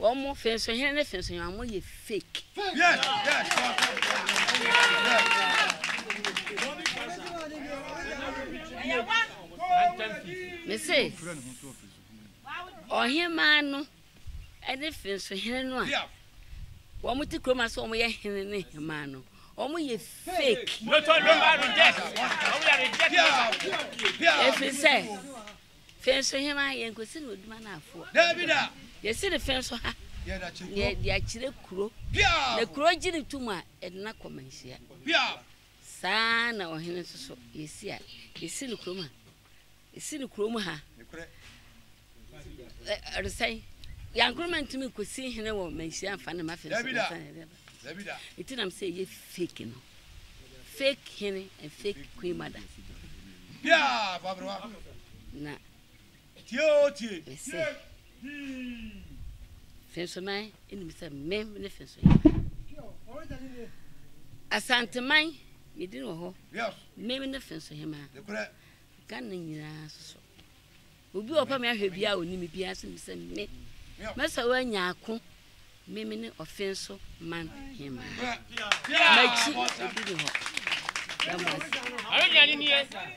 Wɔn fensohene ne fensohema mo yɛ fake. Me se ɔhemaa no ɛne fensohene no a wɔn ti kurom ase wɔn yɛ hene ne hemaa no wɔn yɛ fake. Efi sɛ. Fe nso hena? Yɛnkɔsi no Oduma no afoɔ. Daabi da! Yɛsi no fe nso ha. Yɛda kyerɛ kuro. Yɛde akyerɛ kuro. Piaw! Na kuro gye no tom a, yɛde no akɔ manhyia. Piaw! Saa ara na ɔhene nso so, yɛsi a, yɛsi no kurom ha. Yɛsi no kurom ha. Nokorɛ. Ɛ, ɔresɛn. Yankoroma ntumi nkɔsi hene wɔ manhyia mfa no mma fe nso. Daabi da! Nti nam sɛ ɛyɛ fake no. Fake hene and fake queen mother. Biaa fabrewa. Na. Tie o tie. Mese. Fensoman enim sɛ mem ne fensohema. Asanteman medin wɔ hɔ. Mem ne fensohema. Ghana nyinaa soso. Obi a ɔpɛ me ahwɛ biara a ɔni me biara se me sɛ me mɛsɛ wo anya ako me me ne ɔfe nso man hema makyi obi ne hɔ.